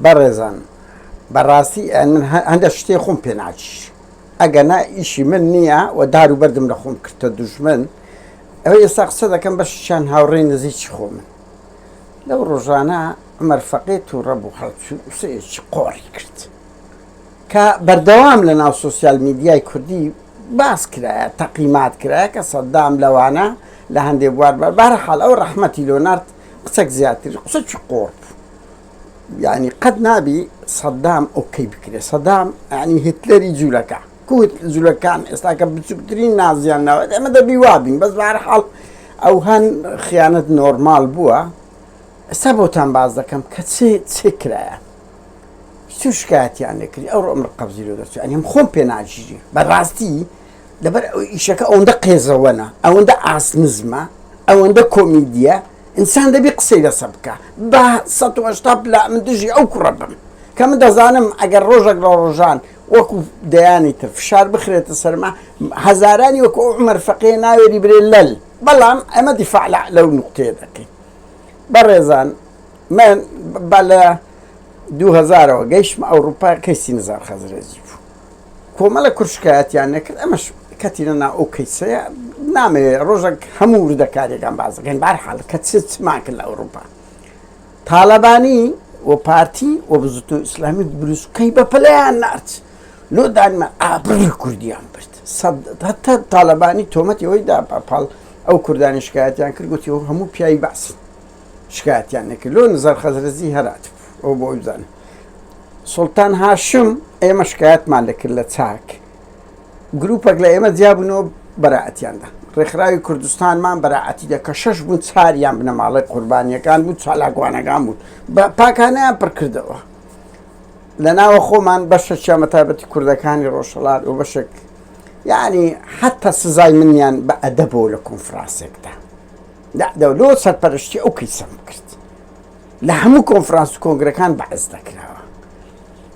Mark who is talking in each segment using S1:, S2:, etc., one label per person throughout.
S1: بەڕێزان بەڕاستی من هەندە شتێ خۆم پێ ناچیش ئەگەنا ئیشی من نییە و دار و بەردم لە خۆم کردتە دوژمن ئەوە ئێستا قسە دەکەم بەشیان هاوڕێی نزیکی خۆمن لەو ڕۆژانە عمر فەقێ تووڕە بوو هەڵچوو قسەیەکی قۆڕی کرد کە بەردەوام لە ناو سوسیال میدیای کوردی باس کرایە تەقیمات کرایە کە سەددام لەوانە لە هەندێک بوار بارە حاڵ ئەو ڕەحمەتی لۆنارد قسەک زیاتر قسەکی قۆڕ بوو یانی قەت نابی سەدام ئۆکەی بکرێ سەدام ینی هتلەری جوولەکە کوت جوولەکان ئێستاکە بچووکترین نازیان ناوێت ئەمە دەبی وابین بەس بار حاڵ ئەو هەن خیانەت نۆرمال بووە ئێستا بۆتان باز دەکەم کە چێ چێ کرایە سوشکاتیان نەکری ئەو ڕۆمر قەبزی لە دەچێت ئەنیم خۆم پێ ناژیری بەڕاستی لەبەر ئەوەی ئیشەکە ئەوەندە قێزەوەنە، ئەوەندە ئاست نزمە، ئەوەندە کۆمیدییە، ئینسان دەبی قسەی لەسە بکا. با سەد و هەشتا پلا من دژی ئەو کوڕە بم، کە من دەزانم ئەگەر ڕۆژەک لە ڕۆژان وەکو دەیانی تر فشار بخرێتە سەرما، هەزارانی وەکو ئەو عومەر فەقێ ناوێری برێ لەل. بەڵام ئێمە دیفاع لە لەو نوقتەیە دەکەین. بەڕێزان من با لە دوو هەزارەوە گەیشتمە ئەوڕوپا کەیسی نزار خەزرەجی بوو. کۆمەڵە کورد شکایەتیان نەکرد ئەمەش کەتینە ناو ئەو کەیسەیە نامەوێ ڕۆژەک هەموو وردەکاریەکان باس دەکەین بارحاڵ کە چ چمان کرد لە ئەوروپا تاالبانی و پارتی و بزوتنەوە ئیسلامی بروسکەی بە پلیان نارد لۆ دانیمان ئابڕی کوردیان برد هەتا تاالبانی تۆمەتی ئەوەی دا پاڵ ئەو کوردانی شکایەتیان کرد گوتی و هەموو پیاوی بەعسن شکایەتیان نەکرد لۆ نزار خەزرەجی هەرات بوو ئەو بۆ ئەوزان سوڵتان هاشم ئێمە شکایەتمان لەکرد لە چاک گروپەک لە ئێمە جیابنەوە بەرائەتیاندا ڕێکخراوی کوردستانمان بەراعەتی دە کە شەش بوون چاریان بنەماڵی قوربانیەکان بوو چالاکوانەکان بوون بە پاکانیان پڕکردەوە لە ناوە خۆمان بەشە چامە تابەتی کوردەکانی ڕۆژهڵات و بەشێک یعنی حتا سزای منیان بە ئەدەبەوە لە کۆنفرانسێکدا دەعدەولۆ سەرپەرشتی ئەو کەیسەم کرد لە هەموو کۆنفرانس و کۆنگرەکان بەعس دەکراوە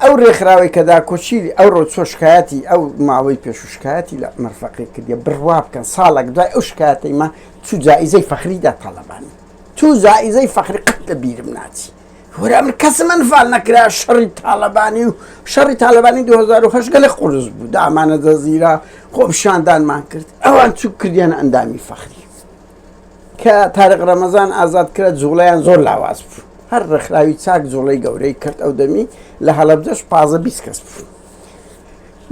S1: ئەو رێکخراوەی کە داکۆچیری ئەو رۆ چۆ شکایەتی ئەو ماوەی پێش و شکایەتی لە مەرفەقی کردیە بڕوا بکەن ساڵێک دوای ئەو شکایەتەی ما چو جائیزەی فەخریدا تاڵەبانی تو جائیزەی فەخری قەت لە بیرم ناچی وەرە من کەسم ئەنفال نەکرا شەڕی تاڵەبانی و شەڕی تاالبانی 2010 گەلە قرس بوو دامانە دەزیرا خۆپشاندانمان کرد ئەوان چوو کردیان ئەندامی فەخری کە تارق رەمەزان ئازاد کرا جوڵەیان زۆر لاواز بوو هەر رێکخراوی چاک جوڵەی گەورەی کرد ئەو دەمی لە هەڵەبجەش پازدە بیست کەس بوو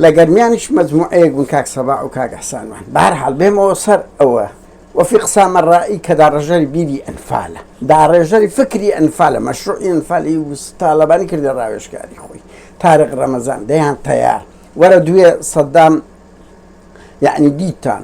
S1: لە گەرمیانیش مەجموعەیەک بوون کاک سەباح و کاک ئیحسانمان بە هەر حاڵ بێمەوە سەر ئەوە وەفیق سامەرایی کە داڕێژەری بیری ئەنفالە داڕێژەری فکری ئەنفالە مەشروعی ئەنفالی و تاڵەبانی کردە ڕاوێژکاری خۆی تارق ڕەمەزان دەیان تەیار وەرە دوێ سەدام یعنی دیتان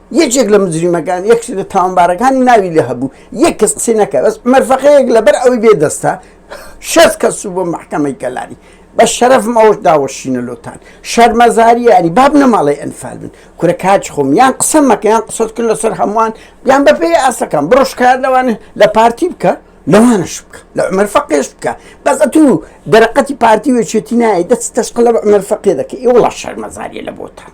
S1: یەکێک لە مجریمەکان یەکس لە تاوانبارەکانی ناوی لێ هەبوو یەک کەس قسەی نەکە بەس مەرفەقەیەک لەبەر ئەوەی بێ دەستە شەست کەس و بۆ محکەمەی کەلاری بە شەرەفم ئەوش داوەشینە لۆتان شەرمەزاریانی باب نەماڵی ئەنفال بن کورە کاچ خۆم یان قسە مەکەیان قسەت کرد لەسەر هەمووان یان بەپێی ئاسەکان بڕۆشکات لەوانە لە پارتی بکە لەوانش بکە لە عمر فەقێش بکە بەس ئەتو دەرەقەتی پارتی وێچێتی نایە دەست تەشقلە بە عمر فەقێ دەکە ئێ وڵا شەرمەزاریە لە بۆتان